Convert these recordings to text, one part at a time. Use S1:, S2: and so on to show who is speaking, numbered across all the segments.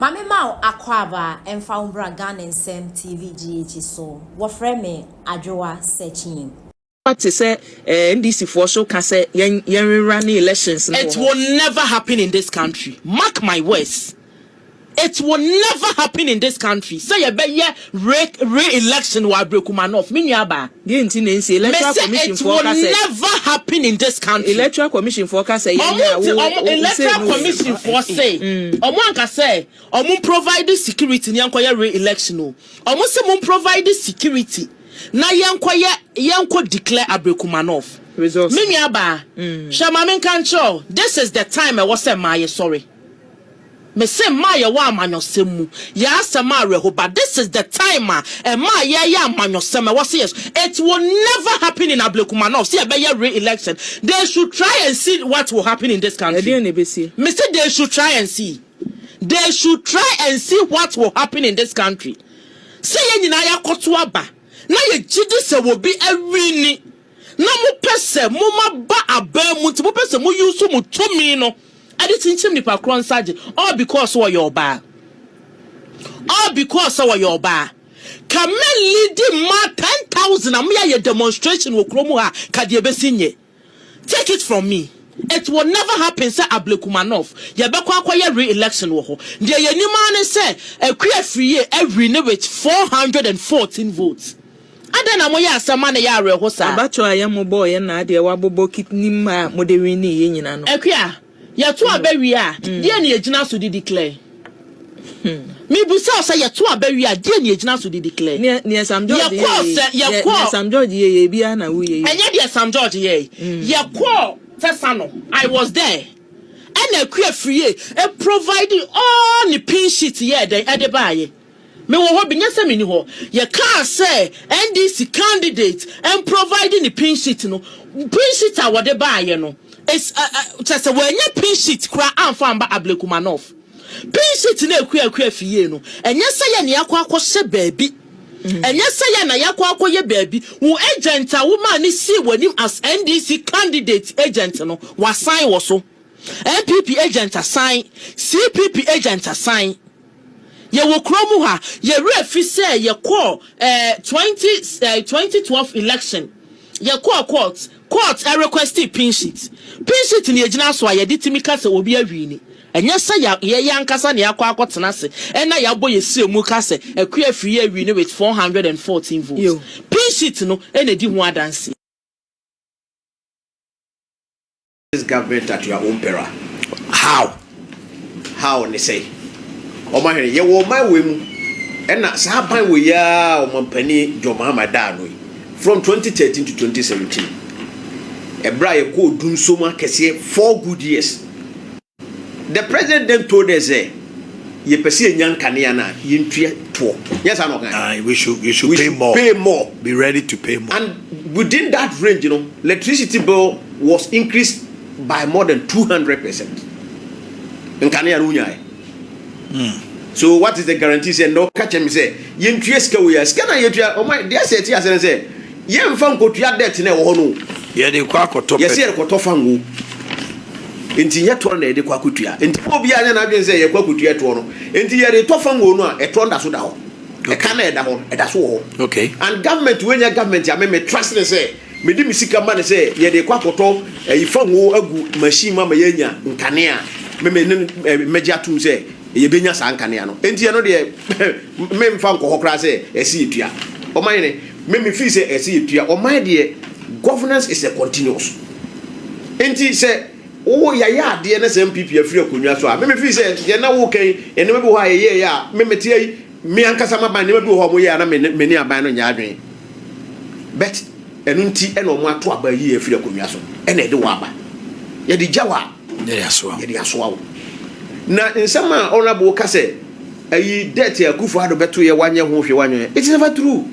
S1: Ma me ma wo akwaaba mfa wo mbra Ghana nsɛm TV GH so. Wɔfrɛ me Adwoa Sekyim. Wate sɛ
S2: eh NDC foɔ so ka sɛ yɛn yɛn rerunne elections no wɔ hɔ. It will never
S3: happen in this country mark my words it will never happen in this country sɛ yɛbɛyɛ. Re re election wɔ Abrekuma North, me nua baa. Deɛ nti na ɛnsi, electoral
S2: commission foɔ ka sɛ. Me sɛ it will never
S3: happen in this country. Electoral commission foɔ ka
S2: sɛ yɛn a wo wo wo say no yɛ. Electoral
S3: commission foɔ se, wɔn anka sɛ wɔn provide security na yɛn kɔ yɛ re election o. Wɔn se wɔn provide security na yɛn kɔ yɛ yɛn kɔ declare Abrekuma North. Results. Me nua baa, hwɛ ma me nka nkyerɛ wo, this is the time ɛwɔ sɛ mmaa yɛ sɔre. Me se mmaa yɛ wɔ amanyɔsɛm mu yɛ asɛm a awerɛho ba this is the time a mmaa yɛ yɛ amanyɔsɛm ɛwɔ se yɛ so it will never happen in Ablekuma North se yɛ bɛ yɛ re election they should try and see what will happen in this country me se they should try and see they should try and see what will happen in this country se yɛ nyinaa yɛ akɔto aba na yɛ gyidi sɛ wɔ bi awini. na mopɛ sɛ moma ba abaa mu nti mopɛ sɛ mo use mo tumi no de kyinkyim nipa korɔ nsa gye all because sɛ ɔyɛ ɔbaa all because sɛ ɔyɛ ɔbaa ka mɛ leadi ma 10,000 a meyɛ ayɛ demonstration wɔ kuro mu ha ka deɛ bɛsi nye take it from me it will never happen sɛ Ablekumanov yɛbɛkɔ akɔyɛ re-election wɔ hɔ deɛ yɛnim ara ne sɛ Akua Afriyie awini with 414 votes Adɛn na moyɛ asɛm ma no yɛ awerɛho saa? Abatoɔ a yɛn mo bɔɔ yɛn
S2: na adeɛ wabobɔ kit ne mma a mode winee yɛn nyina no. Akua, yɛto
S3: aba wie a, deɛn na yɛgyina so de di Claire? Mebisa wo sɛ, yɛto aba wie a, deɛn na yɛgyina so de di Claire? Neɛ, neɛ Sam
S2: George yɛɛ yɛ yi, yɛ, neɛ Sam George yɛɛ yɛ yi biara na wo yɛ yi o. Ɛnyɛ deɛ Sam George yɛɛ
S3: yi. Yɛkɔɔ Tesano, I was there, ɛna Akua firie, provide all ne pin sheet yɛɛ dɛn, ɛde baeɛ. Mewɔ hɔ bi, nyɛ sɛ menni hɔ. Yɛkaa sɛ NDC candidate mprovide ne pin sheet no, pin sheet a wɔde baeɛ no, is a, a, kyerɛ sɛ wɔannya pin sheet koraa amfa amba Ablekumanov. Pin sheet no a ɛkua akua fi yie no, ɛnyɛ sɛ yɛn na yɛakɔ akɔhyɛ baabi, ɛnyɛ sɛ yɛn na yɛakɔ akɔyɛ baabi. Wo agent a womaa no sii w'anim as NDC candidate agent no, wasan wɔ so. NPP agent asan, CPP agent asan. Yɛwɔ kuro mu ha. Yɛ werɛ fi sɛ yɛ kɔɔ eh, 20 eh, 2012 election. Yɛ kɔɔ court. Court ɛ requestii pin sheet. Pin sheet no yɛ gyina so a yɛ de timi ka sɛ obi awini. Ɛnyɛ sɛ yɛ yɛ yɛ ankasa na yɛ akɔ akɔ tena ase ɛna yɛ abɔ yɛ srɛ mu ka sɛ Akua Afriyie awini with 414 votes. Pin sheet no ɛna ɛdi ho adanseɛ.
S4: this government at your own peril how how ne sɛ wɔn ahwɛ yɛ wɔn ɔman wɔ mu ɛna saa aban wɔ yi ara wɔn mpanyin John Mahama daa no yi from 2013 to 2017 ɛbrɛ a yɛkɔ odum so mu akɛseɛ four good years. The president then told us sɛ yɛpɛ sɛ yɛnya nkanea no a yɛntua toɔ nyɛ saa na ɔka uh, we should, we should
S5: we pay, should more. pay more be ready
S4: to pay more
S5: and within that
S4: range you know electricity bill was increased by more than 200 percent nkanea no wonyaɛ mm. so what is the guarantee sɛ ndɛ ɔka kyɛ me sɛ yɛntua sika wei a sika no a yɛtua ɔma deɛ sɛ ɛte asɛ no sɛ Yɛn nfa nkotua debt na ɛwɔ hɔ no o. Yɛde rekɔ akɔtɔ
S5: pɛ. Yɛsi yɛrekɔtɔ fango.
S4: Nti nyɛ toɔ na yɛde kɔ akɔtua. Nti ma obiara nyɛ n'adwene sɛ yɛrekɔ akɔtua ɛtoɔ no. Nti yɛretɔ fango no a ɛtoɔ no da so da hɔ. Ɛka no a ɛda hɔ no ɛda so wɔ hɔ. Okay. And government
S5: wei nyɛ
S4: government a me me trust no sɛ me de me sika ma no sɛ yɛde rekɔ akɔtɔ ɛyi fango agu machine mu ama yɛanya nkanea a me me ne no mɛgye atom sɛ Yɛbɛnya saa nkanea no. Enti ɛno deɛ, memfa nkɔ hɔ koraa sɛ ɛsɛ yɛtua. Ɔman ne, me me feel sɛ ɛsɛ yɛtua. Ɔman deɛ, governance is a continuous. Enti sɛ wo yɛayɛ adeɛ na sɛ NPP afiri akonnwa so a, me me feel sɛ deɛ na woka yi, nneɛma bi wɔ hɔ a yɛyɛeɛ a, me mete ha yi, me ankasa m'aban nneɛma bi wɔ hɔ a wɔyɛɛ a na me ne me ne aban no nyɛ adwene. But ɛno nti na wɔato aban yi afiri akonnwa so na yɛde wo aba. Yɛde gya wo a, Yɛde asoa wo. Yɛde
S5: asoa wo.
S4: Na nsɛm a honourable ka sɛ ayi debt a Akufo Addo bɛto yɛ wanyɛ ho hwee wanyɛ yɛ it's never true.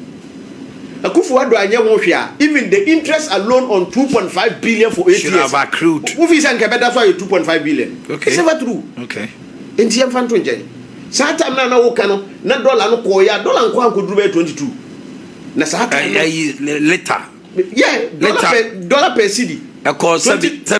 S4: Akufo Addo anyɛ ho hwee a even the interest alone on two point five billion for eight years wo
S5: feel sɛ nka ɛbɛda so
S4: ayɛ two point five billion okay. it's never true
S5: okay.
S4: Nti
S5: yɛmfa nto
S4: nkyɛn saa time na na wo ka no na dollar no kɔɔ yɛ dollar nkɔ ankɔduru bɛyɛ twenty two na saa time no ayi later
S5: yeah
S4: dollar per
S5: dollar per cedi
S4: ɛkɔɔ sɛbi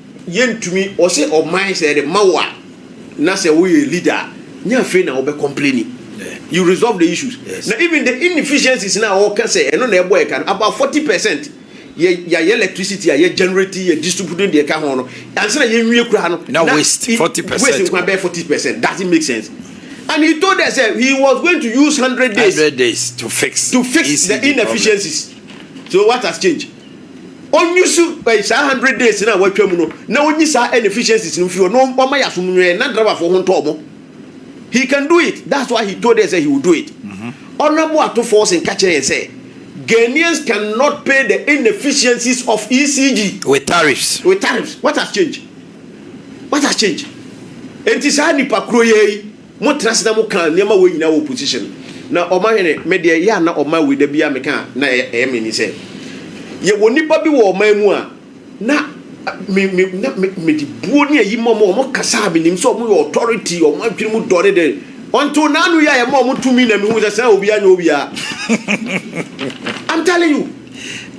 S4: Yɛntumi, ɔsɛ ɔman sɛ yɛde ma wo a na sɛ woyɛ leader a nyɛ afei na wobɛ complaini. You resolve the issues. Yes. Na even the inefficiencies na wɔka sɛ ɛno na ɛbɔ ɛka no about 40 percent yɛ yɛayɛ electricity a yɛ generate yɛ distribute deɛ ɛka ho no ansa na yɛnwie kura no na waste 40 percent
S5: waste nkwa bɛyɛ 40
S4: percent doesn't make sense. And he told us that he was going to use 100 days, 100 days to fix, to fix
S5: ECD the
S4: inefficiencies. Problem. So what has changed? ɔnwusu eh, saa hundred days no a watwa mu no na ɔnyi saa inefficiencies no mfiri hɔ na ɔma yɛ asomnwɛɛ na driverfoɔ ho ntɔ ɔmo he can do it that's why he told us that he will do it mm -hmm. honorable ato forcing ka kyerɛ yɛn sɛ Ghanaians cannot pay the inefficiencies of ECG with tariffs
S5: with tariffs what has
S4: changed what has changed enti saa nipa kuro yɛ yi Mo tra ase na mo kaa nneɛma wei nyinaa wɔ opposition na ɔma hwene me deɛ yɛ a na ɔma wei da biara me ka a na ɛyɛ me ni sɛ yɛ wɔ nipa bi wɔ ɔman mu a na me me na me me de buo ne ayi ma ɔmo ɔmo kasa a me nim sɛ ɔmo yɛ authority ɔmo adwene mu dɔre de ɔnto n'ano yɛ a yɛ ma ɔmo tumi na me hu sɛ sɛ obi anyɛ obi a I'm telling you.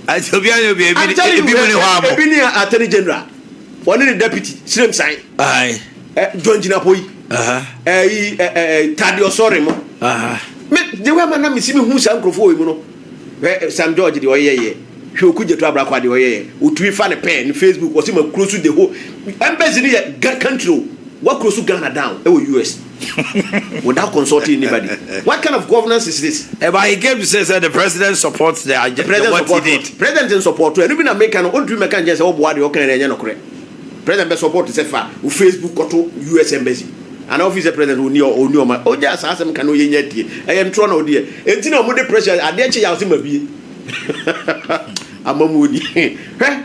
S5: I'm telling you ebi mu ne hɔ amo. Ebi
S4: ne attorney general. Wɔne ne deputy Siremsan. Aye. Eh,
S5: John Jinapoi.
S4: Aha. Eh, yi, eh, eh, eh Tade Ɔsɔre mo. Aha. Me, de wɛ ma na mesi me hu saa nkurɔfoɔ wɔ mu no. Hwɛ eh, Sam George deɛ ɔyɛ yɛ. Hwɛ oku gyeto abrakwa deɛ ɔyɛ yɛ. Otumi fa ne pɛɛ ne Facebook ɔsi ma kuro so the whole. Embassy no yɛ country o. Wakuro so Ghana down ɛwɔ US. without consulting anybody what kind of governance is this. Eh, but he came to say sɛ
S5: the president supports the agenda president what support he did.
S4: president
S5: n
S4: support
S5: ɛno bi
S4: na meka no ɔntumi mɛka nkyɛn sɛ wɔboa deɛ ɔka no ɛnyɛ nokorɛ president bɛ support sɛ fa wo facebook kɔto us embassy anaa ofi sɛ president ɔni ɔni ɔma ɔgya saa asɛm ka no yɛ nya tie ɛyɛ ntorɔ na ɔdeɛ ɛnti na ɔmo de pressure adeɛ kye yɛ ase ma bie amamuoni hwɛ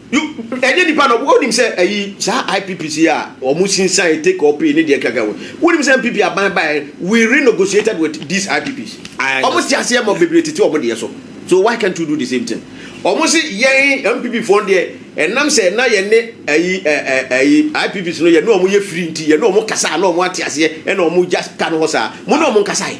S5: You
S4: ɛnyɛ nipa na wo nim sɛ ayi saa IPPs yi a wɔn sinsan take or pay ne deɛ kaka wɔ wo nim sɛ MPP aban baɛ we renegotiated with these IPPs wɔn si aseɛ ma bebree tete wɔn deɛ so so why can't you do the same thing wɔn si yɛn MPP foɔ deɛ ɛnam sɛ na yɛn ne ayi ɛɛ ayi IPPs no yɛn ne wɔn yɛ free nti yɛn ne wɔn kasa na wɔn ate aseɛ ɛna wɔn just ka no hɔ saa mo ne wɔn nkasa yi.